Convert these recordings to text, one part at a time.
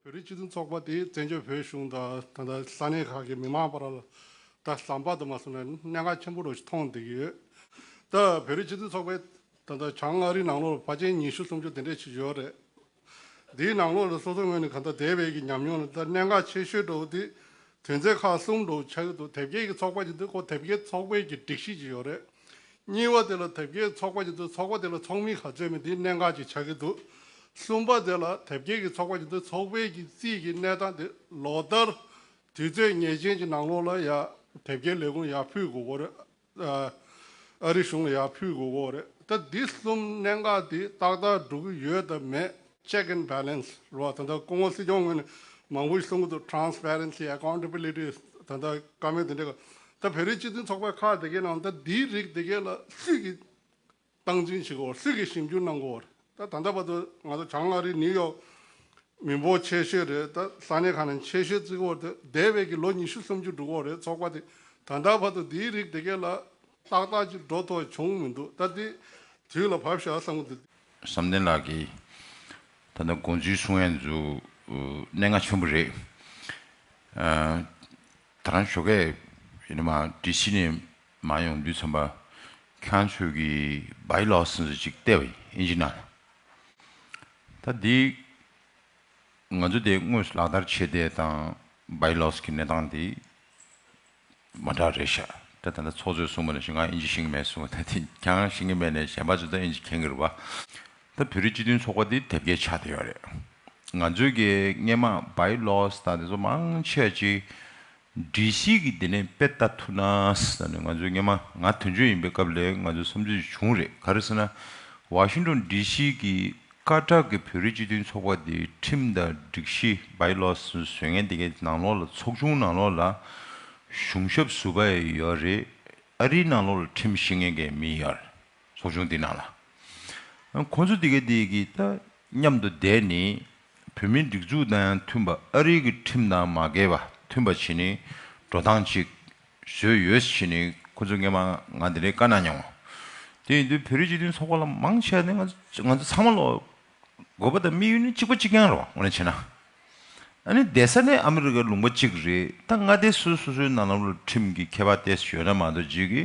བོད་རིགས་སྤྱི་མཐུན་ཚོགས་པ་དེས་བཙན་བྱོལ་བོད་གཞུང་དང་ད་ལྟ་ས་གནས་ཁག་གི་མི་མང་བར་ད་ཟམ་པ་དུ་མ་སོང་ནས་གནད་འགག་ཆེན་པོ་རུ་མཐོང་བསྡད་ཀྱི་ཡོད། ད་བོད་རིགས་སྤྱི་མཐུན་ཚོགས་པས་ད་ལྟ་བྱང་མངའ་རིས་ནང་ལོགས་ལ་ཕ་ཆེན་ཉི་ཤུ་སུམ་ཅུ་དེ་འདྲས་བྱེད་ཀྱི་ཡོད་རེད། འདིའི་ནང་ལོགས་ལ་སོ་སོ་ངོས་ནས་གང་ལྟར་དེ་བས་ཀྱི་ཉམས་མྱོང་ལ་ད་གནད་འགག་ཆེ་ཤོས་འགྲོ་བ་དེ་དོན་ཚན་ཁག་གསུམ་འགྲོ་བ་ཆགས་ཀྱི་འདུག་དེབ་སྐྱེལ་གྱི་ཚོགས་པ་ཞིག་འདུག་གོ་དེབ་སྐྱེལ་ཚོགས་པས་ཀྱི་སྒྲིག་གཞི་ཞིག་ཡོད་རེད། གཉིས་པ་དེ་ལ་དེབ་སྐྱེལ་ཚོགས་པ་ཅིག་འདུག་ཚོགས་པ་དེ་ལ་ཚོགས་མི་ག་ཚོད་མིན་དེའི་གནད་འགག་ཅིག་ཆགས་ཀྱི་འདུག་གསུམ་པ་དེ་ལ་དེབ་སྐྱེལ་གྱི་ཚོགས་པ་ཅིག་འདུག་ཚོགས་པའི་གྱི་རྩིས་ཀྱི་གནས་སྟངས་དེ་ལོ་ལྟར་དུས་ཚོད་ངེས་ཅན་གྱི་ནང་ལོགས་ལ་ཡ་དེབ་སྐྱེལ་ལས་ཁུངས་ཡ་ཕུད་དགོས་པོ་རེད་ཨ་ཨ་རི་གཞུང་ལ་ཡ་ཕུད་དགོས་པོ་རེད་ད་འདི་གསུམ་གནད་འགག་དེ་ཏག་ཏག་འགྲོ་གི་ཡོད་དམ་མེད། Check and Balance། རུ་བ་དང་ཐོག་ཁོངས་ངོ་སྲིད་སྐྱོང་ངོས་ནས་མང་པོ་ཞིག་གསུང་གི་འདུག Transparency Accountability དང་ཐོག་བཀའ་མོལ་དེ་འདྲས་གོ། ད་བོད་རིགས་སྤྱི་མཐུན་ཚོགས་པའི་ཁག་དེ་གའི་ནང་ད་འདིའི་རིགས་དེ་གའི་ལ་སུས་ཀྱི་སྟངས་འཛིན་བྱེད་གོ་སུས་ཀྱི་ཞིབ་འཇུག་གནང་གོ་ད་ད་ལྟ་བར་དུ་ང་ཚོ་བྱང་མངའ་རིས New York མི་འབོར་ཆེ་ཤོས་རེད་ད་ས་གནས་ཁག་ནང་ཆེ་ཤོས་བརྩི་གོ་ད་འདས་བའི་གི་ལོ་ཉི་ཤུ་སུམ་ཅུ་དྲུག་གོ་རེད་ཚོགས་པ་དེ་ད་ད་བར་དུ་འདིའི་རིགས་དེ་གའི་ལ་ཏག་ཏག་ཅིག་འགྲོ་ཐོ་བྱུང་མི་འདུག་ད་འདི་དུས་ལ་བབས་ཤག་བསམ་གི་འདུག། བསམ་གཏན་ལགས་ཀྱིས་ད་ལྟ་དགོངས་ཚུལ་གསུང་ཡ་མཛོད་གནས་ལྔ་ཆེན་པོ་རེད། ད་རང་ཞོགས་ཁས་ཡིན་ན་མ་འདྲི་ཕྱི་ནས་མ་ཡོང་དུས་ཚོམ་པ་ཁྱང་ཆོས་ཀྱི་བའི་ལོག་སེམས་སུ་ཅིག་བལྟས་པ་ཡིན་ཨིན་ཇི་ན་ད་འདི་ང་ཚོ་དེ་དངོས་སུ་ལག་བསྟར་བྱེད་བསྡད་དང་བའི་ལོགས་ཀྱི་གནས་སྟངས་དེ་མ་འདྲ་རེད་ཤག་ད་ད་ད་ཚོགས་གཙོས་གསུངས་པ་ནས་ཤིང་ང་ཨིན་ཇི་ཤིང་གི་མེད་གསུངས་ད་དེ་གང་ཤིང་གི་མེད་ནས་གཞན་པ་ཚོས་ད་ཨིན་ཇི་གན་གི་རེད་པ་ད་བོད་རིགས་སྤྱི་མཐུན་ཚོགས་པ་འདི་དེབ་སྐྱེལ་ཆགས་བསྡད་ཡོད་རེད་ང་ཚོས་ཀྱི་སྔས་མ་བའི་ལོས་ད་དེ་ཚོ་མང་ཆེ་ཅིག་འདྲི་ཤིག་གི་དེ་ནས་དཔེ་ལྟ་ཐུབ་ན་ད་ནི་ང་ཚོས་སྔས་མ་ང་དོན་གཅོད་ཡིན་པའི་སྐབས་ལས་ང་ཚོས་བསམ་ཚུལ་བྱུང་རེད་ག་རེ་ཟེར་ན་བ་ཤིང་དོན་འདྲི་ཤིག་གི་སྐར་གྲགས་ཀྱི་བོད་རིགས་སྤྱི་མཐུན་ཚོགས་པ་དེའི་ཁྲིམས་དང་སྒྲིག་གཞི་བའི་ལོ་སོན་ངན་དེ་གའི་ནང་ལོགས་ལ་ཚོགས་ཆུང་ནང་ལོགས་ལ་གཞུང་ཞབས་ཟུར་པ་ཡོད་རེད་ཨ་རིའི་ནང་ལོགས་ལ་ཁྲིམས་ཤེས་མཁན་གྱི་མི་ཡོད་རེད་ཚོགས་ཆུང་དེའི་ནང་ལ་ཁོང་ཚོ་དེ་གའི་དེ་གའི་ད་མཉམ་དུ་བསྡད་ནས་བོད་མིའི་སྒྲིག་འཛུགས་དང་ཡང་མཐུན་པ་ཨ་རིའི་གི་ཁྲིམས་དང་མ་འགལ་བ་མཐུན་པ་བྱེད་ནས་འགྲོ་སྟངས་ཅིག་བཟོས་ཡོད་ཞེས་ནི་ཁོ་ཚོས་ངེད་མང་ང་དེ་འདྲའི་དཀའ་སྣང་མྱངས། དེ་ཡིན་དུས་བོད་རིགས་སྤྱི་མཐུན་ཚོགས་པ་ལ་མང་ཆེ་བ་ནི་ང་ཚོ་ཚང་མ་ལོག། དགོས་པ་དང་དམིགས་ཡུལ་ནི་གཅིག་པ་གཅིག་རྐྱང་རེད་བ་ངོ་ནས་བྱས་ན། ཨ་ནི་བསྡད་ས་ནི་ཨ་མི་རི་ཀའི་ལུང་པ་གཅིག་རེད་ད་མངའ་སྡེ་སུ་སོ་སོའི་ནང་ལམ་ལུགས་ཁྲིམས་ཀྱི་ཁྱད་པར་ཏེ་གཞོན་ན་མ་གཏོགས་རྗེས་ཀྱི་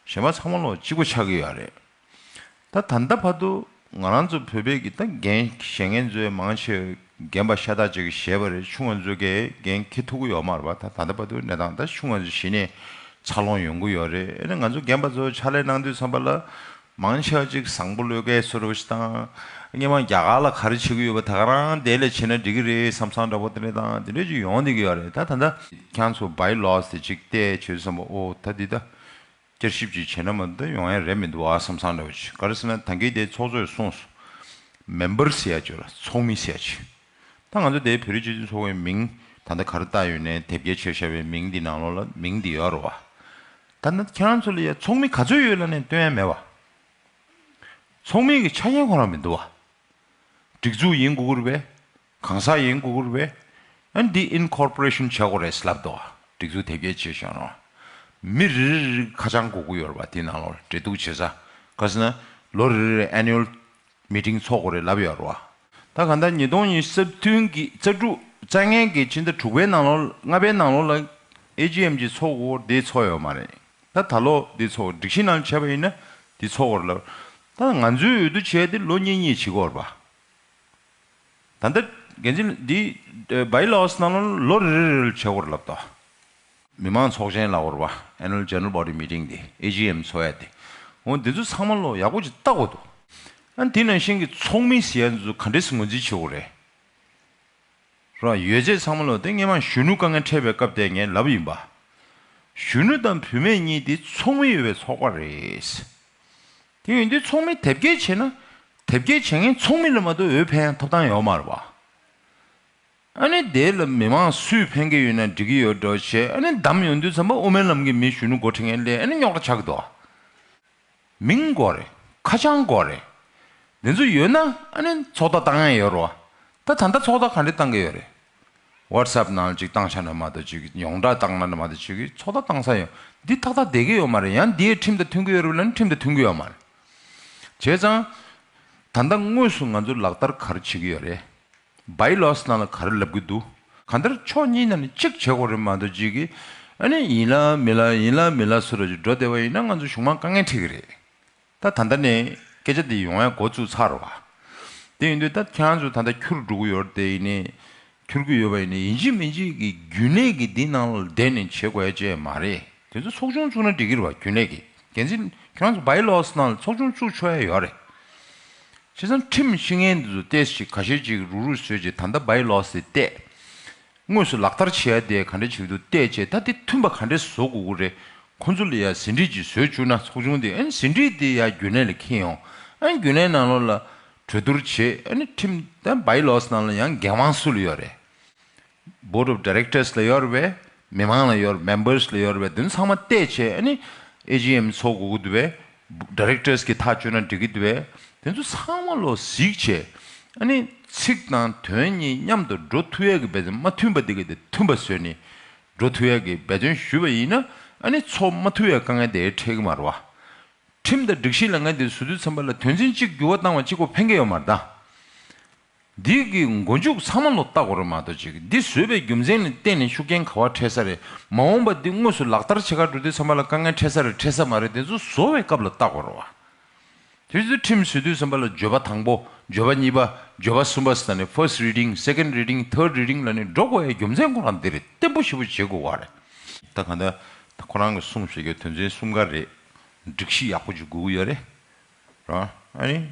གཞོན་པ་ཚང་མ་ལོག་གཅིག་པ་ཆགས་ཀྱི་ཡོད་རེད། ད་ད་ལྟ་བར་དུ་ང་རང་ཚོ་བོད་པའི་གི་ད་འགན་བཞེས་མཁན་ཚོའི་མང་ཆེ་བས་རྒན་པ་ཤ་སྟག་ཅིག་གི་བཞེས་པ་རེད་ཆུང་བ་ཚོའི་གའི་འགན་ཁྱི་ཐུག་གི་ཡོག་མར་བ་ད་ད་ལྟ་བར་དུ་གནས་སྟངས་ད་ཆུང་བ་ཚོ་གཞི་ནས་འཚར་ལོངས་ཡོང་གི་ཡོག་རེད་ཨ་ནི་ང་ཚོ་རྒན་པ་ཚོ་ཕྱག་ལས་གནང་དུས་ཚང་པ་ལ་མང་ཆེ་བ་ཅིག་བཟང་པོ་བློས་འགེལ་སོ་རོ་ཞིག་དང་སྙན་མང་རྒྱ་གར་ལ་ག་རེ་བྱེད་གི་ཡོད་པ་ད་ག་རང་དེ་ལས་བྱེད་ན་འགྲིག་གི་རེད་བསམ་བསམ་འདྲ་པོ་དེ་འདྲ་དང་དེ་འདྲ་ཅིག་ཡོང་སྡོད་ཀྱི་ཡོག་རེད་ད་ད་ད། ཁྱང་ཚོ་བའི་ལོགས་སུ་ཅིག་བལྟས་བྱོས་བསམ་པ་ཨོ་ད་འདི་ད་བསྐྱར་ཞིབ་ཅིག་བྱས་ན་མ་མཐའ་ཡོང་ཡ་རེད་མི་འདུག་ཨ་བསམ་བསམ་རེད་བ་ཅི་ག་རེ་ཟེར་ན་ད་འགི་དེ་ཚོགས་གཙོས་གསུངས་སོ། མེམ་པར་ཟེར་ཡ་བཅོས་ལ་ཚོགས་མི་ཟེར་ཡ་བྱས། ད་ང་ཚོ་དེ་བོད་རིགས་སྤྱི་མཐུན་ཚོགས་པའི་མིང་ད་ལྟ་ག་རེ་བཏགས་ཡོད་ནའི་དེབ་སྐྱེལ་བྱས་བཞག་པའི་མིང་འདི་ནང་ལོགས་ལ་མིང་འདི་ཡོད་རོ་བ། ད་ནི་ཁྱེད་རང་ཚོ་ལ་ཡ་ཚོགས་མི་ག་ཚོད་ཡོད་ལ་ནས་བཏོན་ཡ་མེད་བ། ཚོགས་མི་གི་ཆ་རྐྱེན་གང་རང་མི་འདུག་བ། སྒྲིག་འཛུགས་ཡིན་གུ་གུ་རུ་བས་གང་ཟག་ཡིན་གུ་གུར་བས་ཨན་འདི Incorporation བྱེད་དགོས་རེད་ལབ་འདུག་སྒྲིག་འཛུགས་དེབ་སྐྱེལ་བྱེད་བཞིན་རུང། མི་རེ་རེ་རེའི་ཁ་བྱང་གུ་གུ་ཡོད་རེད་པ་དེ་ནང་ལོར་འབྲེལ་གཏུགས་བྱེད་ས་ག་ཟེར་ན་ལོ་རེ་རེར Annual Meeting ཚོགས་དགོས་རེད་ལབ་ཡོད་རུང། ད་ག་ཟླ་ཉིས་སྟོང་ཉིས་རྩ་བདུན་གྱི་རྩ་དྲུག་རྩ་ལྔའི་གི་ཕྱི་ཟླ་དྲུག་པའི་ནང་ལོར་ལྔ་པའི་ནང་ལོར་ལ AGM གྱི་ཚོགས་གུ་གུར་དེ་ཚོགས་ཡོད་མ་རེད་ད་ད་ལོ་དེ་ཚོགས་སྒྲིག་གཞི་ནང་བྱས་པ་ཡིན་ན་དེ་ཚོགས་དགོས་རེད་ལབ་ད་ང་ཚོའི་འོས་བསྡུ་བྱས་ཏེ་ལོ་གཉིས་གཉིས་བྱེད་དགོས་རེད་པ། ད་ལྟ་འགན་འཛིན་འདིས་བའི་ལོ་ཨོས་ནང་ལོ་ལོ་རེ་རེ་རེལ་བྱེད་སྐོར་ལབ་ཏོ། མི་དམངས་ཚོགས་ཆེན་ལ་བོར་བ Annual General Body Meeting དེ AGM འཚོ་ཡ་དེ་འོ་འདི་ཚོ་ཚང་མ་ལོ་ཡག་པོ་ཅིག་བལྟ་དགོས་འདུག་ཨ་འདི་ནང་བཞིན་གྱི་ཚོགས་མི་ཟེར་ཡ་འདི་ཚོ་ག་འདྲེ་སི་ངོས་འཛིན་བྱེད་སྐོར་རེད་རོ་ཡོད་ཆད་ཚང་མ་ལོ་དེ་སྔས་མ་གཞོན་ནུ་དཀའ་ངལ་འཕྲད་པའི་སྐབས་དེ་ངས་ལབ་ཡིན་པ་གཞོན་ནུ་དང་བུད་མེད་གཉིས་དེ་ཚོགས་མི་ཡོད་པའི་ཚོགས་པ་རེད། དེ་ཡོན་ཏན་ཚོགས་མི་དེབ་སྐྱེལ་བྱས་ན། དེབ་སྐྱེལ་བྱེད་མཁན་ཚོགས་མི་ལ་མ་གཏོགས་འོས་འཕེན་ཐོབ་ཐང་ཡོག་མ་རེད་བ། ཨ་ནི་དེ་ལ་མི་མང་སུས་འཕེན་གི་ཡོད་ན་འགྲིག་གི་ཡོད་འགྲོ་བྱས་ཨ་ནི་བདམས་ཡོང་དུས་ཚང་མ་དབུ་མའི་ལམ་གི་མི་གཞོན་ནུ་འགོ་ཁྲིད་མཁན་ལས་ཨ་ནི་རྙོག་དྲ་ཆགས་གི་འདུག་བ། མིང་དགོས་རེད་ཁ་བྱང་དགོས་རེད། དེ་ཚོ་ཡོད་ན་ཨ་ནི་ཚོགས་བརྡ་བཏང་ཡོད་རེད་བ། ད་ད་ལྟ་ཚོགས་བརྡ་ག་འདྲི་བཏང་གི་ཡོད་རེད། WhatsApp ནང་ལ་ཅིག་བཏང་ཤག་ན་མ་གཏོགས་ཅིག་ཡོངས་གྲགས་བཏང་ན་ན་མ་གཏོགས་ཅིག་གིས་ཚོགས་བརྡ་བཏང་ས་ཡོད། འདི་ཏག་ཏག་བསྡད་ཀྱི་ཡོད་མ་རེད་ཡང་འདིའི་ཁྲིམས་དང་མཐུན་གྱི་ཡོད་རེད་ལ་ནི་ཁྲིམས་དང་མཐུན་གྱི་ཡོད་མ་རེད། བྱས་ཙང། ད་ལྟ་དངོས་སུ་ང་ཚོ་ལག་བསྟར་ག་རེ་བྱེད་ཀྱི་ཡོད་རེད། By laws ནང་ལ་ག་རེ་ལབ་ཀྱི་འདུག་ག་འདིར་ཕྱོགས་གཉིས་ནང་ནས་ཅིག་བྱེད་དགོས་རེད་མ་གཏོགས་ཅིག་གིས་ཨ་ནི་ཡིན་ལ་མིན་ལ་ཡིན་ལ་མིན་ལ་ཟེར་བ་ཅིག་འགྲོ་བསྡད་པ་ཡིན་ན་ང་ཚོ་གཞུང་མང་དཀའ་ངལ་འཕྲད་ཀྱི་རེད། ད་ད་ལྟ་ནས་སྐད་ཆ་འདི་ཡོང་བའི་འགོ་བཙུགས་ཚར་བ། དེ་ཡིན་དུས་ད་ཁྱེད་ཚོ་ད་ལྟ་འཁྱུར་འགྲོ་གི་ཡོད་དེ་ཡིན་ནས་འཁྱུར་གི་ཡོད་པ་ཡིན་ནས་ཡིན་གཅིག་མིན་གཅིག་གིས་རྒྱུན་ལས་ཀྱི་འདི་ནང་ལ་བསྡད་ནས་བྱེད་དགོས་ཅེས་མ་རེད་དེ་ཚོ་ཚོགས་ཆུང་བཙུགས་ན་འགྲིག་གིར་བ་རྒྱུན་ལས་ཀྱི་འགན་འཛིན་ཁྱེད་རང་ཚོ་བའི་ལོག་ས་ནང་ལ་ཚོགས་ཆུང་བཙུགས་ཆོག་ཡ་ཡོད་རེད། བྱས་ཙང་ཁྲིམས་ཤིང་ངན་འདི་ཚོ་ལྟས་ཤིག་ག་ཤེད་ཅིག་རུག་རུག་བཟོས་ཅིག་ད་ལྟ་བའི་ལོག་ས་དེ་ལྟས། དངོས་སུ་ལག་བསྟར་བྱེད་ཡ་དེ་ག་འདྲ་བྱེད་འདུག་བལྟས་ཆེད་ད་དེ་མཐུན་པ་ག་འདྲ་བཟོ་དགོས་དགོས་རེད་ཁོང་ཚོ་ལ་ཡ་ཟིན་བྲིས་ཅིག་བཟོས་བཅུག་ན་ཚོགས་ཆུང་དེ་ཨན་ཟིན་བྲིས་དེ་ཡ་རྒྱུན་ལས་ལ་ཁྱེར་ཡོང་ཨན་རྒྱུན་ལས་ནང་ལོགས་ལ་གྲོས་བསྡུར་བྱེད་ཨན་ཁྲིམས་ཨན་བའི་ལོགས་ནང་ལ་ཡང་འགན་དབང་སུ་ལ་ཡོད་རེད Board of Directors ལ་ཡོད་རེད་མི་མང་ལ་ཡོད་རེད Members ལ་ཡོད་རེད་དོན་ཚང་མ་བལྟས་ཆེད་ཨན AGM ཚོགས་དགོས་དགོས་དུ་བས Directors གྱི་ཐག་གཅོད་ན་འགྲིག་གི་འདུག་བས་དེ་ཚོ་ཚང་མ་ལོ་ཟིག་བྱས་ཨ་ནི་ཚིག་དང་དོན་གཉིས་མཉམ་དུ་འགྲོ་ཐུ་ཡས་ཀྱི་འབད་བརྩོན་མ་མཐུན་པ་འདི་ག་དེ་མཐུན་པ་བཟོས་ནས་འགྲོ་ཐུ་ཡས་ཀྱི་འབད་བརྩོན་ཞུས་པ་ཡིན་ན་ཨ་ནི་ཚོགས་མ་ཐུ་ཡས་དཀའ་ངལ་དེ་འཕྲད་གི་མ་རུ་བ། ཁྲིམས་དང་སྒྲིག་གཞི་ལས་འགན་དེ་བཟོ་དུས་ཚན་པ་ལ་དོན་ཚན་གཅིག་འགྱུར་བ་བཏང་བ་གཅིག་གོ་ཕན་གི་ཡོད་མ་རེད་ད། འདི་གི་མགོ་མཇུག་ཚང་མ་ལོ་ལྟ་གོ་རེ་མ་གཏོགས་ཅིག་འདི་བཟོས་པའི་རྒྱུ་མཚན་ནི་གཏན་ནས་ཤུགས་རྐྱེན་ག་བ་འཕྲད་ས་རེད་མ་འོངས་པ་འདི་དངོས་སུ་ལག་བསྟར་བྱེད་ཁར་འགྲོ་དུས་ཚང་མ་ལ་དཀའ་ངལ་འཕྲད་ས་རེད་འཕྲད་ས་མ་རེད་དེ་ཚོ་བཟོ་བའི་སྐབས་ལ་ལྟ་གོ་རེ་བ། དེ་ཚོའི་ཁྲིམས་བཟོས་དུས་ཚང་མ་ལ་བརྗོད་པ་དང་པོ་བརྗོད་པ་གཉིས་པ་བརྗོད་པ་གསུམ་པ་ཟེར་ན་ནི First Reading Second Reading Third Reading ལ་ནི་འགྲོ་དགོས་ཡའི་རྒྱུ་མཚན་ཁོ་རང་འདི་རེད་བརྟན་པོ་ཞེ་པོ་བྱེད་དགོས་བ་རེད། ད་ག་འདི་ད་ཁོ་རང་གི་གསུངས་བཞེས་རྒྱུ་དོན་ཚན་གསུམ་ག་རེད་སྒྲིག་གཞི་ཡག་པོ་འཇུག་དགོས་ཀྱི་ཡོད་རེད་རང་ཨ་ནི།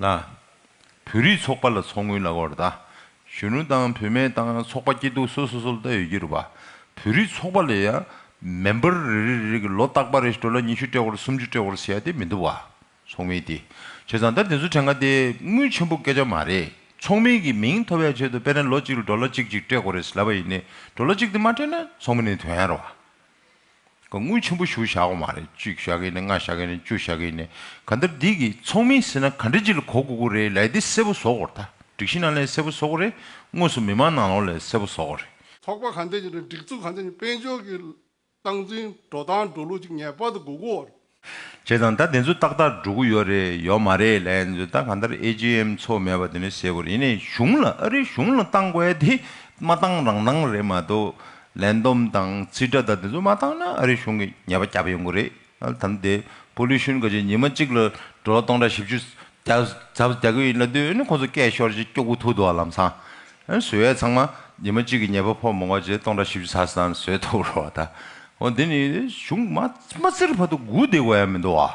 ལ། བོད་རིགས་ཚོགས་པ་ལ་ཚོགས་དངུལ་ལ་དབོར་ཟླ། གཞོན་ནུ་དང་བུད་མེད་དང་ཚོགས་པ་སྐྱིད་སྡུག་སོ་སོ་སོ་ལ་ལྟ་ཡོད་རྒྱུ་རུ་བ། བོད་རིགས་ཚོགས་པ་ལ་ཡང་མེ་འབར་རེ་རེ་རེ་གི་ལོ་རྟག་པ་རེ་སྤྲོ་ལ་ཉི་ཤུ་སྤྲད་ཧོར་སུམ་ཅུ་སྤྲད་ཧོར་ཟེར་ཡ་དེ་མི་འདུག་བ། ཚོགས་མི་དེ། བྱས་ཙང་ད་དེ་ཚོ་དྲན་ག་དེ་དངུལ་ཆེན་པོ་སྐད་ཆ་མ་རེད། ཚོགས་མི་གི་མིང་ཐོབ་ཡ་ཆེད་དུ་དཔེ་ན་ལོ་གཅིག་ལ་སྤྲོ་ལ་གཅིག་གཅིག་སྤྲད་དགོས་རེད་ཟེར་ལབ་པ་ཡིན་ནི་སྤྲོ་ལ་གཅིག་དེ་མ་སྤྲད་ན་ཚོགས་མི་ནི་དོན་ཡ་རུ་བ། དངུལ་ཆེན་པོ་ཞུ་བཞག་གོ་མ་རེད་གཅིག་བཞག་གིན་ནི་ལྔ་བཞག་གིན་ནི་བཅུ་བཞག་གིན་ནི་ག་འདིར་སྡིག་གིས་ཚོགས་མིན་ཟེར་ན་ག་འདྲི་གཅིག་ལ་གོ་དགོས་གོ་རེད་ལས་དེ་སེར་པོ་བཟོ་གོ་རེད་ད་སྒྲིག་གཞི་ནང་ལས་སེར་པོ་བཟོ་གོ་རེད་དངོས་སུ་མི་དམངས་ནང་ལོག་ལས་སེར་པོ་བཟོ་གོ་རེད། ཚོགས་པ་ག་འདི་ཡིན་རེད་སྒྲིག་འཛུགས་ག་འདི་ཡིན་དཔལ་འབྱོར་གྱི་སྟངས་འཛིན་འགྲོ་སྟངས་འགྲོ་ལུགས་གཅིག་ངེས་པར་དུ་གོ་དགོས་རེད། བྱས་དང་ད་དེ་ཚོ་ཏག་ཏག་འགྲོ་གི་ཡོད་རེད་ཡོད་མ་རེད་ལན་ཚོད་ད་གང་ལྟར AGM ཚོགས་མེད་པ་དེ་འདྲ་བྱས་དགོས་རེད་ཡིན་ནའི་གཞུང་ལ་ཨ་རིའི་གཞུང་ལ་བཏང་དགོས་དེ་མ་བཏང་རང་སྣང་རེད་མ་གཏོགས་ལན་སྡོམ་དང་རྩིས་ཁྲ་དང་དེ་ཚོ་མ་བཏང་ན་ཨ་རིའི་གཞུང་གི་ཉེས་པ་བརྒྱབ་ཡོང་གི་རེད་དམ་དེ Pollution ག་རྗེས་ཉི་མ་གཅིག་ལ་འགྲོ་ལོ་སྟོང་ཕྲག་བཞི་བཅུ་རྒྱ་བཟའ་རྒྱག་གི་ཡིན་ལ་དུས་ཡུན་ནི་ཁོ་ཚོ་སྐད་ཤོར་རྗེས་སྐྱོ་གུ་ཐུག་འདུག་ཨ་ལམ་སང་ཨེ་ཟོས་ཨེ་ཚང་མ་ཉི་མ་གཅིག་གི་ཉལ་པ་ཕོག་མོང་བ་རྗེས་སྟོང་ཕྲག་བཞི་བཅུ་ཚར་སང་ཟོས་ཐོབ་རོགས་བ་ད། ཨོ་འདི་ནི་གཞུང་མ་རྩེ་རུ་བར་དུ་སྒུག་བསྡད་དགོས་ཡ་མི་འདུག་ཨ།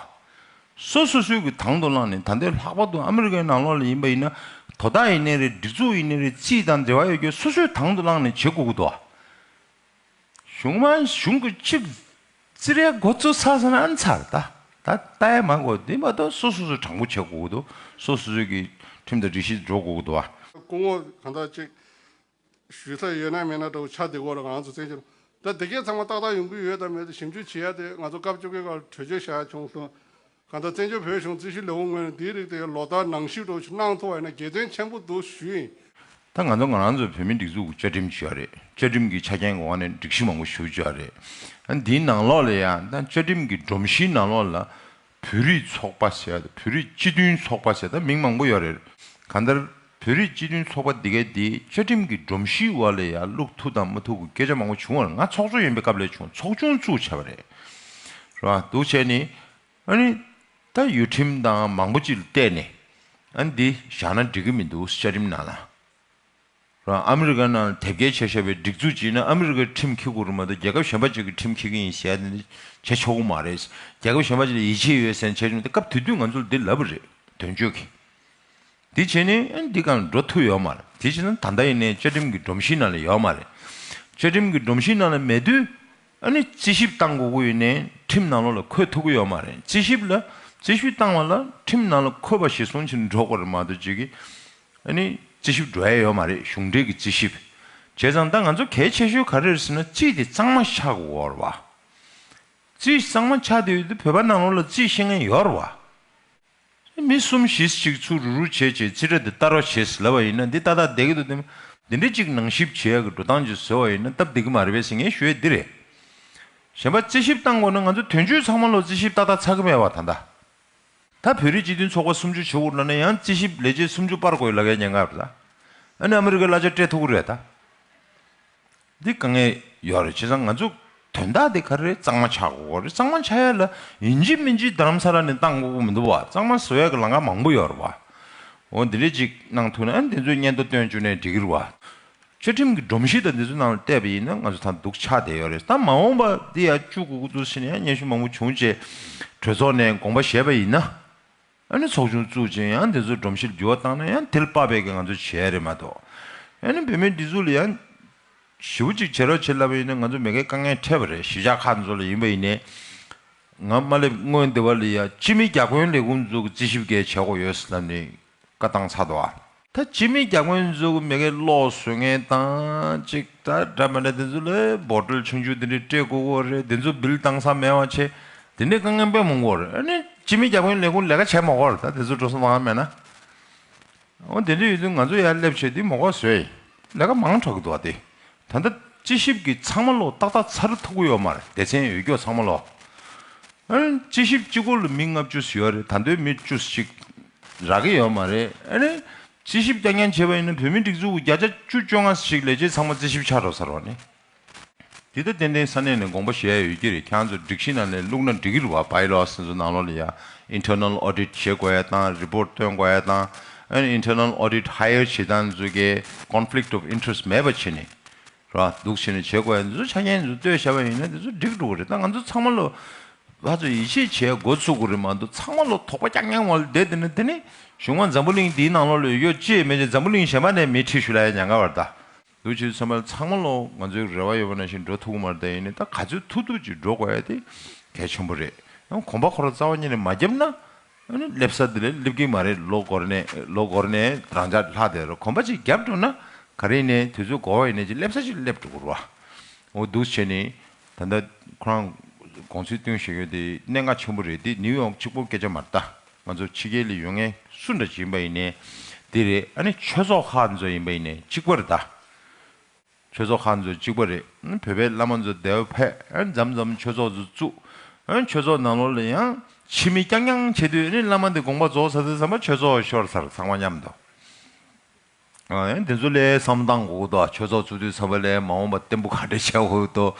སོ་སོ་སོའི་གི་དང་དུ་བླངས་ནས་ད་འདོད་ལྷག་པར་དུ་ཨ་མི་རི་ཀའི་ནང་ལོགས་ལ་ཡིན་པ་ཡིན་ན་དོ་བདག་ཡིན་ནའི་རེད་སྒྲིག་འཛུགས་ཡིན་ནའི་རེད་ཅི་དང་འབྲེལ་བ་ཡོད་ཁྱོད་སོ་སོས་དང་དུ་བླངས་ནས་བྱེད་དགོས་གི་འདུག་ཨ། གཞུང་མ་གཞུང་གི་ཆིག་བརྩི་རའི་འགོ་གཙོ་ས་ས་ན་ཚར་ད་ད་ལྟའི་མ་གོ་དེ་མ་གཏོགས་སོ་སོ་སོ་དྲང་པོ་བྱེད་དགོས་དོ་སོ་སོ་སོ་གི་ཁྲིམས་དང་སྒྲིག་གཞི་འགྲོ་དགོས་དོ་ཨ། སྐུ་ངོ་གང་དག་ཅིག་ཞུས་ས་ཡོད་ན་མེད་ན་འདྲ་བོ་ཆ་འདི་གོ་ར་གང་ཚོ་བཙན་བྱོལ་ད་འདི་གས་ཚང་མ་ཏག་ཏག་ཡོང་གི་ཡོད་དམ་མེད་ཞིབ་འཇུག་བྱེད་ཡ་དེ་ང་ཚོ་སྐབས་བཅོ་བརྒྱད་ཁར་བྲོས་བྱོལ་བཞག་ཡ་བྱུང་སོང་གང་ལྟར་བཙན་བྱོལ་བོད་གཞུང་རྩིས་ཞུ་ལས་ཁུངས་ངོས་ནས་འདིའི་རིགས་དེ་གའི་ལོ་ལྟར་ནང་བཤུས་སྤྲོད་ཆུ་གནང་ཐུབ་པ་ཡིན་ན་དགྱེས་སྟོན་ཆེན་པོ་འདུག་ཞུ་ཡིན། ད་ང་ཚོ་ང་རང་ཚོའི་བོད་མིའི་སྒྲིག་འཛུགས་ཀྱི་བཅའ་ཁྲིམས་ཞུ་བ་རེད་བཅའ་ཁྲིམས་ཀྱི་ཆ་རྐྱེན་གི་འོག་ནས་སྒྲིག་གཞི་མང་པོ་ཞུ་བཅའ་རེད། འདིའི་ནང་ལོགས་ལ་ཡང་ད་བཅའ་ཁྲིམས་ཀྱི་སྒྲོམ་གཞིའི་ནང་ལོགས་ལ་བོད་རིགས་ཚོགས་པ་ཟེར་བ་དང་བོད་རིགས་སྤྱི་མཐུན་ཚོགས་པ་ཟེར་ད་མིང་མང་པོ་ཡོད་རེད། གང་ལྟར་བོད་རིགས་སྤྱི་མཐུན་ཚོགས་པ་འདི་གའི་འདི་བཅའ་ཁྲིམས་ཀྱི་སྒྲོམ་གཞིའི་བར་ལས་ཡར་ལུག་ཐུག་དང་མ་ཐུག་གི་སྐད་ཆ་མང་པོ་བྱུང་བར་ང་ཚོགས་གཙོ་ཡིན་པའི་སྐབས་ལས་བྱུང་ཚོགས་ཆུང་བཙུགས་བྱས་པ་རེད། རེད་བ་འདུག་བྱས་ནས་ཨ་ནི་ད་ཡོད་ཁྲིམས་དང་མང་པོ་ཅིག་ལ་བལྟས་ནས་ཨ་ནི་འདི་བཞག་ན་འགྲིག་གི་མི་འདུག་བཅའ་ཁྲིམས་ནང་ལ། རེད་བ་ཨ་མི་རི་ཀ་ནང་ལ་དེབ་སྐྱེལ་བྱས་བྱས་པའི་སྒྲིག་འཛུགས་ཅིག་ནི་ཨ་མི་རི་ཀའི་ཁྲིམས་འཁྱེར་དགོས་རུང་མ་གཏོགས་རྒྱལ་ཁབ་གཞན་པ་ཅིག་གི་ཁྲིམས་འཁྱེར་གྱི་ཡིན་ཟེར་ཡ་དེ་འདི་བྱས་ཆོག་གི་མ་རེད། རྒྱལ་ཁབ་གཞན་པ་ཅིག་ལ་ཡིད་ཆེས་ཡོད་ཟེར་ན་བྱས་ཆོག་ཏེ་སྐབས་དེ་དུས་ང་ཚོ་ལ་འདི་ལབ་པ་རེད་དོན་གཅོད་ཀྱི། དེ་བྱས་ནས་འདི་གང་འགྲོ་ཐུབ་ཡོད་མ་རེད། དེ་བྱས་ན་ད་ལྟ་ཡིན་ནའི་བཅའ་ཁྲིམས་ཀྱི་སྒྲོམ་གཞིའི་ནང་ལ་ཡོད་མ་རེད། བཅའ་ཁྲིམས་ཀྱི་སྒྲོམ་གཞིའི་ནང་ལ་མེད་དུས། རྩིས་ཞིབ་བཏང་དགོས་ཀྱི་ཡིན་ནའི་ཁྲིམས་ནང་ལོགས་ལ་འཁོད་ཐུབ་ཀྱི་ཡོད་མ་རེད། རྩིས་ཞིབ་ལ་རྩིས་ཞིབ་བཏང་བ་ལ་ཁྲིམས་ནང་ལ་འཁོད་པ་ཞིག་སོང་ཕྱིར་འགྲོ་དགོས་རེད་མ་གཏོགས་ཅིག། རྩིས་ཞིབ་འགྲོ་ཡ་ཡོད་མ་རེད་གཞུང་འབྲེལ་གྱི་རྩིས་ཞིབ་བྱས་ཙང་ད་ང་ཚོ་གལ་ཆེ་ཤོས་ག་རེ་རེད་ཟེར་ན་རྩིས་དེ་གཙང་མ་ཆགས་དགོས་རེད་བ། རྩིས་གཙང་མ་ཆགས་དུས་དེ་བོད་པ་ནང་ལོགས་ལ་རྩིས་ཤེས་མཁན་ཡོད་རེད་བ། མི་གསུམ་བཞིས་གཅིག་ཚུར་རུ་རུ་བྱས་བྱས་ཚིག་སྒྲ་འདི་ལྟར་བ་ཞེས་ལབ་པ་ཡིན་ན་འདི་ཏག་ཏག་བསྡད་ཀྱི་འདུག་དེ་མིན་འདི་འདྲ་གཅིག་ནང་ཞིབ་བྱས་ཀྱི་འགྲོ་སྟངས་ཀྱིས་བཟོས་བ་ཡིན་ན་སྟབས་བདེ་གི་མ་རེད་བས་སེམས་ངལ་ཞུ་ཡས་འདི་རེད། གཞན་པ་རྩིས་ཞིབ་བཏང་དགོས་ན་ང་ཚོ་དོན་གཅོད་ཚང་མ་ལོ་རྩིས་ཞིབ་ཏག་ཏག་ཚར་གྱི་མེད་བ་ད་ལྟ། ད་བོད་རིགས་སྤྱི་མཐུན་ཚོགས་པ་སུམ་ཅུ་བྱེད་འུར་ལ་ན་ཡང་རྩིས་ཞིབ་ལས་བྱེད་སུམ་ཅུ་སྤར་དགོས་ཡོད་ལ་ཀའི་སྙན་ངག་རེད་ད། ཨ་ནི་ཨ་མི་རི་ཀའི་གླ་ཆ་སྤྲད་ཐུག་གི་རེད་ད། འདི་དཀའ་ངལ་ཡོད་རེད་བྱས་ཙང་ང་ཚོ་དོན་དག་འདི་ག་རེ་གཙང་མ་ཆགས་དགོས་རེད་གཙང་མ་ཆགས་ཡ་ལ་ཡིན་གྱི་མིན་གྱི་དར་མ་ས་ར་ནས་བཏང་དགོས་དགོས་མི་འདུག་བ་གཙང་མ་བཟོ་ཡ་གི་ལང་ཀ་མང་པོ་ཡོད་རེད་བ། འོ་འདི་འདྲས་ཅིག་གནང་ཐུག་ན་འདི་ཚོའི་སྙན་ཐོ་བཏོན་བཅུག་ནས་འགྲིག་གི་རེད་བ། ཆོས་ཁྲིམས་ཀྱི་སྒྲོམ་གཞི་དང་འདི་ཚོའི་ནང་ལ་བལྟས་པ་ཡིན་ན་ང་ཚོ་ད་འདུག་ཆགས་བསྡད་ཡོད་རེད་ད་མ་འོངས་པ་འདི་ཡ་བཅུག་གོ་གི་འདུག་ཟེར་ནས་ཡང་སྙན་ཞུ་མང་པོ་བྱུང་རྗེས་གྲོས་ཚོགས་ནས་དགོངས་པ་བཞེས་པ་ཡིན་ན། ཨ་ནི་ཚོགས་ཆུང་བཙུགས་རྗེས་ཡང་དེ་ཚོའི་སྒྲོམ་གཞིར་འགྱུར་བ་བཏང་ན་ཡང་དེལ་དཔག་པའི་གི་ང་ཚོ་བྱས་རེད་མ་གཏོགས། ཨ་ནི་བུད་མེད་འདི་ཚོ་ལ་ཡང། ཞི་བོ་ཅིག་བྱེད་རོགས་བྱེད་སླ་བ་ཡིན་ན་ང་ཚོ་མེ་ཁའི་དཀའ་ངལ་འཕྲད་པ་རེད་གཞིས་ཆགས་ཁག་འདི་ཚོ་ལ་ཡིན་པ་ཡིན་ནའི། ང་དམའ་སླེབས་སྔོན་དེ་བ་ལ་ཡང་སྤྱི་མི་རྒྱ་དགོན་ལས་ཁུངས་འཛུགས་ཀྱི་རྩིས་ཞིབ་འགལ་བྱེད་དགོས་ཡོད་ཟེར་ན་ནི་བཀའ་བཏང་ཚར་དུ་ཨ། ད་ཅི་མི་རྒྱག་མགོན་འཛུགས་མི་གེ་ལོག་བཟོད་ངན་བཏང་ཅིག་ད་འདྲ་མི་འདྲ་དེ་ཚོ་ལས་འབོར་སྒྲོལ་ཆུང་ཆུང་དེ་འདྲས་སྤྲད་དགོས་གོ་རེད་དེ་ཚོ་བིལ་བཏང་ས་མེད་བ་ཆེ་དེ་འདྲས་དཀའ་ངན་པད་མོ་མགོ་རེད་ཨ་ནི་ཅི་མི་རྒྱག་མགོན་ལས་ཁུང་ལས་ཀ་བྱས་མ་གོ་རེད་ད་དེ་ཚོ་འགྲོ་སོང་ལོང་ཡ་མེད་ན་འོ་དེ་འདྲས་ཡོད་དུས་ང་ཚོ་ཡར་སླེབས་བྱས་དུས་མོ་གོ་བཟོད་ལས་ཀ་མང་དྲག་འདུག་བ་དེ་ད་ལྟ་དཔྱད་ཞིབ་ཀྱི་ཚང་མ་ལོ་ཏག་ཏག་ཚར་ཐུག་གོ་ཡོག་མར་སྡེ་ཚན་ཡོད་ཀྱོག་ཚང་མ་ལོ། དཔྱད་ཞིབ་གཅིག་སྐོར་ལ་མི་ལྔ་བཅུ་ཟིག་ཡོད་རེད་ད་འདོད་མི་བཅུ་གཅིག་རག་གི་ཡོད་མ་རེད། དཔྱད་ཞིབ་བསྐྱར་ཉར་བྱས་པ་ཡིན་ན་བོད་མིའི་སྒྲིག་འཛུགས་ཀྱི་བརྒྱ་ཆ་བཅུ་བཅོ་ལྔ་ཞིག་ལས་བྱེད་ཚང་མ་དཔྱད་ཞིབ་ཆགས་འགྲོ་ས་རོགས་ནི། འདི་ལྟ་ཏན་ཏན་ས་གནས་ནས་དགོངས་པ་བཞེས་ཡ་ཡོད་ཀྱི་རེད་ཁྱང་ཚོ་སྒྲིག་གཞི་ནང་ནས་བླུག་ན་འགྲིག་གི་རུ་བ་བ་ཡི་ལོགས་སེམས་སུ་ནང་ལོགས་ལ་ཡ Internal Audit བྱེད་དགོས་ཡ་དང Report བཏོན་དགོས་ཡ་དང་ཨན Internal Audit Hire བྱེད་སྟངས་འཛུལ་གྱི Conflict of Interest མེད་པ་བྱེད་ནི་ར་འདུག་བྱེད་ནི་བྱེད་དགོས་ཡ་འདི་ཚོ་ཆ་རྐྱེན་འདི་ཚོ་བཏོད་བྱས་པ་ཡིན་ན་འདི་ཚོ་འགྲིག་འགྲོ་གི་རེད་ད་ང་ཚོ་ཚང་མ་ལོ་ལྷ་ཚོ་ཡིད་ཆེས་བྱས་འགོ་ཚུགས་གི་རེད་མ་འདུག་ཚང་མ་ལོ་དོག་པ་རྐྱང་རྐྱང་བ་ལོ་བསྡད་འདི་ན་དེ་ནི་གཞུང་མང་འཛམ་བུ་གླིང་འདིའི་ནང་ལོ་ལོ་ཡོད་ཅེས་མེད་ཅེས་འཛམ་བུ་གླིང་གཞན་པ་ནས་མི་ཁྲི་ཤུ་ལ་ཡང་ཉང་ཁ་བར་ད། འདུག་ཆོས་ཚན་པ་ཚང་མ་ལོ་ང་ཚོའི་རེ་བ་ཡོད་པ་ནང་བཞིན་འགྲོ་ཐུག་གི་མ་རེད་ད་ཡིན་ནའི་ད་ག་ཚོད་ཐུག་ཐུག་ཅིག་འགྲོ་དགོས་ཡ་དེ་གལ་ཆེན་པོ་རེད་ཡང་གོམ་པ་ཁོ་ར་རྩ་བ་ཉིད་ནས་མ་བརྒྱབ་ན་སླེབས་ས་འདི་ལ་སླེབས་ཀི་མ་རེད་ལོ་འགོར་ནས་ལོ་འགོར་ནས་རང་འཇགས་ལྷག་དེ་རུ་གོམ་པ་ཅིག་བརྒྱབ་འགྲོ་ན་ག་རེ་ཡིན་ནའི་དུས་ཚོད་འགོར་བ་ཡིན་ནའི་ཅིག་སླེབས་ས་ཅིག་སླེབས་འགྲོ་དགོས་རུ་བ་འདུག་བྱས་ནས་ད་ལྟ་ཁོ་རང་དགོངས་ཚུལ་བཏོན་བཞིན་ཡོད་དེ་གནད་འགག་ཆེན་པོ་རེད་དེ་ནིའུ་ཡོག་ཆིག་པོ་སྐད་ཆ་མ་རེད་ད། ང་ཚོ་ཕྱི་རྒྱལ་ལས་ཡོང་མཁན་སུ་འདྲ་ཞིག་ཡིན་པ་ཡིན་ནའི་དེ་རེད་ཨ་ནི་ཆོས་ཚོགས་ཁག་ཚོ་ཡིན་པ་ཡིན་ནའི་གཅིག་པ་རེད་ད། ཆོས་ཚོགས་ཁག་ཚོ་གཅིག་པ་རེད་བོད་པའི་བླ་མ་ཚོ་དེ་བས་འཕེལ་འཇམ་འཇམ་ཆོས་ཚོགས་ཚོ་བཙུགས། ཆོས་ཚོགས་ནང་ལོགས་ལ་ཡང་ཕྱི་མི་རྐྱང་རྐྱང་བྱེད་དུས་ཨ་ནི་བླ་མ་འདི་དགོངས་པ་རྫོགས་ཚར་དུས་ཚང་མ་ཆོས་ཚོགས་ཤོར་ཚར་ཚང་མ་མཉམ་དུ། དེ་ཚོ་ལས་བསམ་བཏང་གོ་གོ་ཏོ་ཆོས་ཚོགས་ཚུགས་དུས་ཚར་བ་ལས་མ་འོངས་པ་བརྟན་པོ་ག་འདྲས་བྱ་གོ་གོ་ཏོ།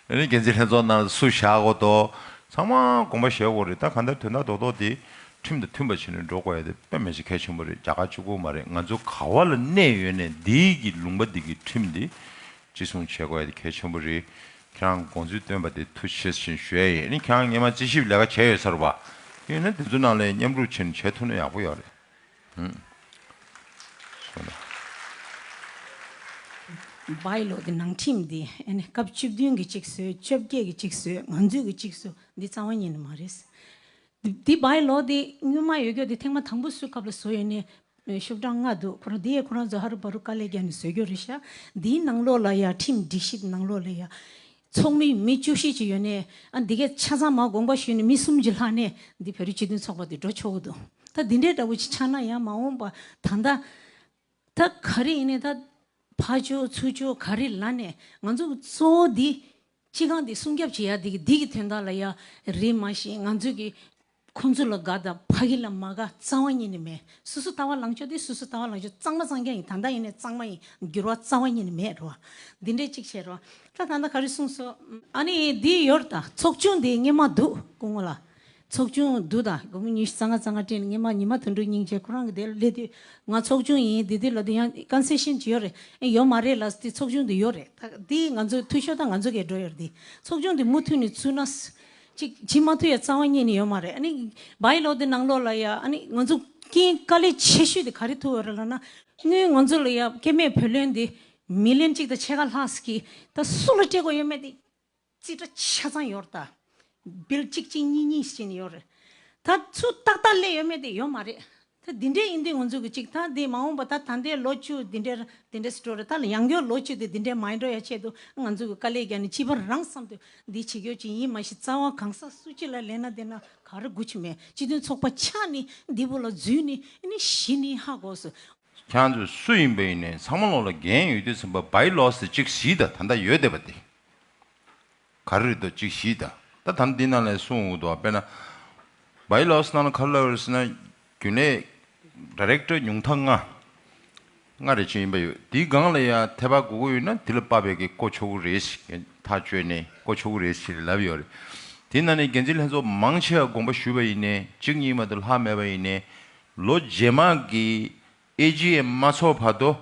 ཨ་ནི་འགན་འཛིན་ལྷན་ཚོགས་ནང་སུ་བཞག་གོ་གོ་ཏོ། ཚང་མ་དགོངས་པ་བཞེས་གོ་རེད་ད་ག་འདྲ་དོན་དག་རྡོག་རྡོག་དེ་ཁྲིམས་དང་མཐུན་པ་བྱེད་ནས་འགྲོ་དགོས་ཡ་དེ་དཔེ་མེད་ཅིག་གལ་ཆེན་པོ་རེད་རྒྱ་གར་གཅིག་པོ་མ་རེད་ང་ཚོ་ག་བ་ལ་གནས་ཡོད་ནས་འདི་གི་ལུང་པ་འདི་གི་ཁྲིམས་དེ་ཅི་གསུང་བྱེད་དགོས་ཡ་དེ་གལ་ཆེན་པོ་རེད་ཁྱེད་རང་དགོངས་ཚུལ་བཏོན་པ་དེ་ཐུགས་ཆེ་ཞིང་ཞུ་ཡ་ཡིན་ཨ་ནི་ཁྱེད་རང་ངེད་མ་རྩིས་ཞིབ་ལས་ཀ་བྱས་ཡོད་ཚར་བ་ཡིན་ན་དེ་ཚོ་ནང་ལས་མཉམ་རུབ་བྱེད་ནས་བྱས་ཐུབ་ན་ཡག་པོ་ཡོད་རེད། བའི་ལོ་དེ་ནང་ཁྲིམས་འདི་ཨེ་ནས་སྐབས་བཅུ་བདུན་གྱི་ཅིག་སོས་བཅོ་བརྒྱད་ཀྱི་ཅིག་སོས་ང་ཚོས་ཀྱི་ཅིག་སོས་འདི་རྩ་བ་ཉིད་ནས་མ་རེད། འདི་བའི་ལོ་དེ་སྔོན་མ་ཡོད་རྒྱུ་དེ་ཐེངས་མ་དང་པོ་བསུས་སྐབས་ལ་བཟོ་ཡོད་ནས་ཤོག་གྲངས་ལྔ་འདུག་ཁོ་རང་དེ་ཡས་ཁོ་རང་ཚོ་ཧ་རུ་བ་རུ་དཀའ་ལས་བརྒྱབ་ནས་བཟོས་རྒྱུ་རེད་ཤག་འདིའི་ནང་ལོགས་ལ་ཡང་ཁྲིམས་སྒྲིག་གཞི་དེ་ནང་ལོགས་ལ་ཡང་ཚོགས་མི་མི་བཅུ་བཞི་ཅིག་ཡོད་ནས་ཨ་འདི་གས་ཆ་ཚང་མ་དགོངས་པ་ཞུས་ནས་མི་གསུམ་གྱིས་ལྷག་ནས་འདི་བོད་རིགས་སྤྱི་མཐུན་ཚོགས་པ་འདི་འགྲོ་ཆོག་གི་འདུག་ད་འདི་འདྲའི་འདྲ་བོ་ཅིག་ཆགས་ན་ཡང་མ་འོངས་པ་ད་ལྟ་ད་ག་རེ་ཡིན་ནས་ད་ཕ་ཅོ་ཚུ་ཅོ་ག་རེ་ལ་ནས་ང་ཚོ་གཙོ་བོ་འདི་སྤྱི་ཁང་འདི་སྲུང་སྐྱབས་བྱེད་ཡ་འདི་གི་འདི་གི་དོན་དག་ལ་ཡ་རེད་མ་གཞི་ང་ཚོ་གི། ཁོང་ཚོ་ལ་དགའ་དང་ཕ་གི་ལ་མ་དགའ་གཙང་བ་གཉིས་ནི་མེད་སོ་སོ་ལྟ་བ་ལང་ཕྱོགས་དེ་སོ་སོ་ལྟ་བ་ལང་ཕྱོགས་གཙང་མ་གཙང་རྐྱང་ཡིན་ད་ལྟ་ཡིན་ནས་གཙང་མ་ཡིན་འགྱུར་བ་གཙང་བ་གཉིས་ནི་མེད་རོ། འདི་འདྲས་གཅིག་བྱས་རོ། ད་ད་ནི་ག་རེ་གསུངས་སོ། ཨ་ནི་འདི་ཡོད་རེད་ད་ཚོགས་ཆུང་འདི་སྙེ་མ་འདུག་སྐུ་ངོ་ལ། ཚོགས་ཆུང་འདུག་ད་དགོང་མོ་ཉི་ཤུ་རྩ་ལྔ་རྩ་ལྔ་སྤྲེལ་སྙེ་མ་ཉི་མ་དུད་འགྲོ་སྙིང་རྗེ་ཁོ་རང་གི་དེ་སླེབས་དུས་ང་ཚོགས་ཆུང་ཡིན་འདི་དུས་ལ་དུས་ཡང་ཀན་སེ་ཤན་གྱི་ཡོད་རེད་ཨེ་ཡོད་མ་རེད་ལ་དེ་ཚོགས་ཆུང་འདི་ཡོད་རེད་ད་དེ་ང་ཚོ་འཐུས་ཤོར་ད་ང་ཚོ་གས་འགྲོ་ཡོད་རེད་འདི་ཚོགས་ཆུང་འདི་མུ་མཐུད་ནས་ཚུད་ན། ཅིག་ཇི་མ་ཐུ་ཡ་རྩ་བ་རྙེད་ནི་ཡོད་མ་རེད་ཨ་ནི་བ་ཡི་ལོ་དེ་ནང་ལོགས་ལ་ཡ་ཨ་ནི་ང་ཚོ་རྐྱེན་དཀའ་ལས་ཆེ་ཤོས་དེ་ག་རེ་ཐུ་བ་རེད་ལ་ན་དངུལ་ང་ཚོ་ལ་ཡ་སྐལ་མེད་བུ་ལོན་དེ་མི་ལོན་ཅིག་ད་ཕྱེད་ཀ་ལྷགས་ཀྱི་ད་སུ་ལ་སྤྲད་དགོས་ཡོད་མེད་དེ་ཅི་ཏྲ་ཆ་ཚང་ཡོད་རེད་ད་བིལ་ཅིག་ཅིག་གཉིས་གཉིས་ཞེས་ནི་ཡོད་རེད་ད་སུ་ཏག་ཏག་ལས་ཡོད་མེད་དེ་ཡོད་མ་རེད་ཐ་དེ་འདྲའི་ཡིན་དུས་ང་ཚོས་གི་གཅིག་ཐང་དེ་མ་འོངས་པ་ད་ད་ལྟའི་ལོ་བཅུ་དེ་འདྲའི་དེ་འདྲའི་སི་འགྲོ་རེད་ད་ལ་ཡང་སྐྱོ་ལོ་བཅུ་དེ་དེ་འདྲའི་མ་ཡིན་འགྲོ་ཡ་ཆེད་དུ་ང་ཚོས་གི་དཀའ་ལས་བརྒྱག་ནི་སྤྱི་པར་རང་བསམ་དུ་འདི་བྱེད་ཁྱོད་ཀྱི་ཡིན་མ་ཤི་རྩ་བ་གང་ཟག་སུ་སྤྱི་ལ་ལས་ན་དེ་ན་ག་རེ་དགུ་ཆུ་མེད་སྤྱི་དོན་ཚོགས་པ་ཆགས་ནི་འདི་བོ་ལ་རྫུན་ནི་ནི་བཞི་ནི་ཧ་གོ་སུ། ཁྱང་ཚོས་སུ་ཡིན་པ་ཡིན་ནའི་ཚང་མ་ལོག་ལ་རྒན་ཡོད་དུས་སེམས་པ་བའི་ལོག་ཟེར་གཅིག་བཞི་དང་ད་ད་ཡོད་བསྡད་པ་དེ། གར་རིགས་དང་གཅིག་བཞི་དང་ད་དམ་འདི་རྣམས་ལས་གསུང་འོག་ཏུ་དཔེར་ན། Bailausnana Colors ན་རྒྱུན་ལས། Director། ཉུང་མཐའ་ལྔ། ལྔ་རེ་ཅན་ཡིན་པ་ཡོད་དེའི་སྒང་ལ་ཡང་ཐེ་བག་གོ་གོ་ཡོད་ན་དེ་ལ་དཔག་པའི་གི་ཀོ་ཆོ་གུ་རེ་ཞིག་གི་ཐག་གཅོད་ནས་ཀོ་ཆོ་གུ་རེ་ཞིག་ལ་ལབ་ཡོད་རེད། དེ་ན་ནས་འགན་འཛིན་ལྷན་ཚོགས་མང་ཆེ་བ་དགོངས་པ་ཞུས་པ་ཡིན་ནས་གཅིག་གཉིས་མ་གཏོགས་ལྷག་མེད་པ་ཡིན་ནས། ལོ་རྗེས་མ་གི་ཨེ་ཇི་ཡའི་མ་ཚོགས་བར་དོ།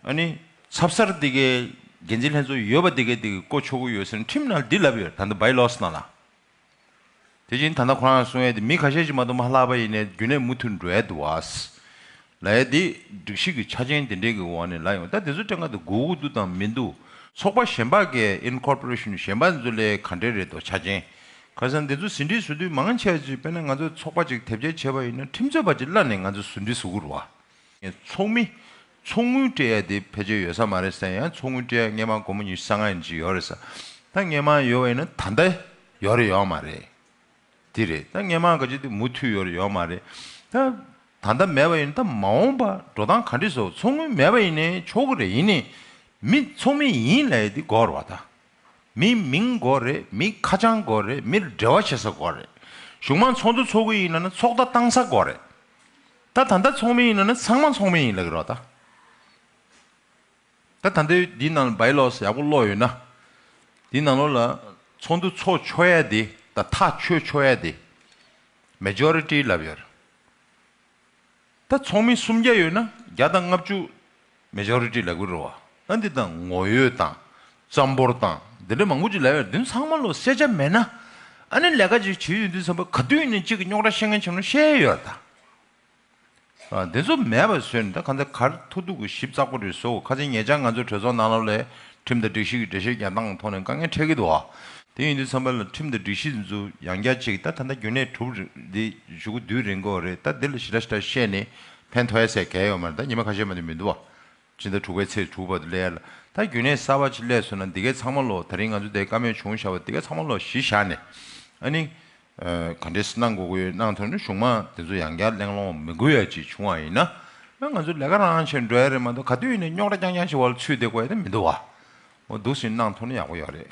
ཨ་ནི། ཚབ་སར་དེ་གའི་འགན་འཛིན་ལྷན་ཚོགས་ཡོད་པ་དེ་གའི་དེ་གའི་ཀོ་ཆོ་གོ་ཡོད་སེར་ཁྲིམས་ནང་འདི་ལབ་ཡོད་ད་ནི་བའི་ལོགས་སུ་གནང་ན། དེ་བཞིན་ད་ནི་ཁོ་རང་སོང་ཡས་དེ་མི་ཁ་ཤས་ཀྱིས་མ་གཏོགས་མ་ལྷག་པ་ཡིན་ནའི་རྒྱུ་ནས་མུ་མཐུད་འགྲོ་ཡས་འདུག་བས། ལ་ཡས་དེ་སྒྲིག་གཞི་གི་ཆ་རྐྱེན་དེ་འདྲས་ཀྱི་འོག་ནས་ལ་ཡོང་ད་དེ་ཚོ་སྤྲད་འགའ་དེ་གོ་གུ་འདུག་དང་མི་འདུག་ཚོགས་པ་གཞན་པ་འགའི Incorporation གཞན་པ་འཛུ་ལས་ག་འདྲས་རེད་དོ་ཆ་རྐྱེན་ག་སར་འདི་ཚོ་ཟིན་བྲིས་བཟོ་དུས་མང་ཆེ་བ་ཅིག་དཔེར་ན་ང་ཚོའི་ཚོགས་པ་ཅིག་དེབ་སྐྱེལ་བྱེད་པ་ཡིན་ན་ཁྲིམས་རྩོད་པ་ཅིག་གླ་ནས་ང་ཚོས་ཟིན་བྲིས་བཟོ་དགོས་རེད། ཚོགས་མི། ཚོགས་དངུལ་སྤྲད་ཡ་དེ་ཕལ་ཆེར་ཡོད་ས་མ་རེད་བསམ་ཡང་ཚོགས་དངུལ་སྤྲད་ཡ་སྔས་མང་སྒོར་མོ་ཉི་ཤུ་སང་ང་ཡིན་ཅིག་ཡོད་རེད་ས་ད་སྔས་མང་ཡོད་བ་ཡིན་ན་ད་ལྟ་ཡོད་རེད་ཡོད་མ་རེད་དེ་རེད་ད་སྔས་མང་ག་ཅིག་དེ་མུ་མཐུད་ཡོད་རེད་ཡོད་མ་རེད་ད་ད་ལྟ་མེད་བ་ཡིན་ད་མ་འོངས་པ་འགྲོ་སྟངས་ག་འདྲི་བཟོ་ཚོགས་དངུལ་མེད་བ་ཡིན་ནའི་ཆོག་གི་རེད་ཡིན་ནའི་མི་ཚོགས་མི་ཡིན་ལ་ཡི་དེ་འགོར་བ་ད། མི་མིང་དགོས་རེད་མི་ཁ་བྱང་དགོས་རེད་མིར་འབྲེལ་བ་བྱེད་ས་དགོས་རེད་གཞུང་མང་ཚོགས་འདུ་འཚོགས་གི་ཡིན་ན་ནི་ཚོགས་བརྡ་བཏང་ས་དགོས་རེད་ད་ད་ལྟ་ཚོགས་མི་ཡིན་ན་ནི་ཚང་མ་ཚོགས་མི་ཡིན་ལགས་རོགས་ད་ད་ད་འདི་འདི་ནང་བའི་ལོགས་ཡག་པོ་ཀློག་ཡོད་ན་འདི་ནང་ལོགས་ལ་ཚོགས་འདུ་འཚོགས་ཆོག་ཡ་དེ་ད་ཐག་ཆོད་ཆོག་ཡ་དེ Majority ལབ་ཡོད་རེད། ད་ཚོགས་མི་སུམ་བརྒྱ་ཡོད་ན་བརྒྱ་དང་ལྔ་བཅུ། Majority ལག་པའི་རུ་བ། ཨ་འདི་དང་ངོ་ཡོད་དང། རྩམ་ཕོར་དང། འདི་འདྲ་མང་པོ་ཅིག་ལ་ཡར་འདུན་ཚང་མ་ལོ་གསལ་ཆ་མེད་ན། ཨ་ནི་ལས་ཀ་ཅིག་བྱེད་ཡོད་འདུན་ཚང་པ་ག་དུས་ནས་གཅིག་གི་རྙོག་དྲ་ཤེས་མཁན་ཆེན་མོ་ཤེས་ཡོད་ད། ཨ་འདི་ཚོ་མེད་པ་བཟོས་ནས་ད་ག་འདྲ་གར་ཐུག་ཐུག་གི་ཞིབ་ཙག་པོ་རེ་བཟོ་གོ་ཁ་ཆེ་ངེད་ཅག་ང་ཚོའི་གྲོས་ཚོགས་ནང་ལ་ལས་ཁྲིམས་དང་སྒྲིག་གཞི་གི་འགྲེལ་བཤད་རྒྱག་སྟངས་ཐོག་ནས་དཀའ་ངལ་འཕྲད་ཀྱི་འདུག་ཨ། དེ་ཡིན་དུས་ཚང་མས་ལ་ཁྲིམས་དང་སྒྲིག་གཞི་འཛུ་ཡང་རྒྱ་ཅིག་ད་ད་ལྟ་རྒྱུན་གནས་གྲུབ་འདི་བཞུགས་སྒོ་དུས་རིང་གོ་རེད་ད་འདི་ལ་ཞི་ཏྲ་ཞི་ཏྲ་བཤད་ནས་ཕན་ཐོའི་ཟེར་གལ་ཡོད་མ་རེད་ད་ཉི་མ་ཁ་ཤས་མ་དེ་མི་འདུག་ཨ། སྤྱི་ཟླ་དྲུག་པའི་ཚེས་དྲུག་བར་དུ་ལས་ཡ་ལ་ད་རྒྱུན་གནས་གསར་བ་ཅིག་བསླས་སོང་ན་འདི་གའི་ཚང་མ་ལོག་ད་རིང་ང་ཚོ་དེ་ཀ་མེད་བྱུང་བཞག་པ་འདི་ག་ཚང་མ་ལོག་ཞི་བཞག་ནས་ཨ་ནི། ག་འདྲས་གནང་དགོས་དགོས་གནང་ཐོན་ནས་གཞུང་མང་དེ་ཚོ་ཡང་བསྐྱར་གླེང་སློང་མི་དགོས་ཡ་ཅིག་བྱུང་བ་ཡིན་ན་ང་ཚོ་ལས་ཀ་རང་རང་བྱེད་འགྲོ་ཡ་རེད་མ་གཏོགས་ག་དུས་ནས་རྙོག་དྲ་རྐྱང་རྐྱང་བྱེད་བ་ལ་ཚུད་བསྡད་དགོས་ཡ་ད་མི་འདུག་བ། འོ་འདུག་ཟིན་གནང་ཐོན་ན་ཡག་པོ་ཡོད་རེད།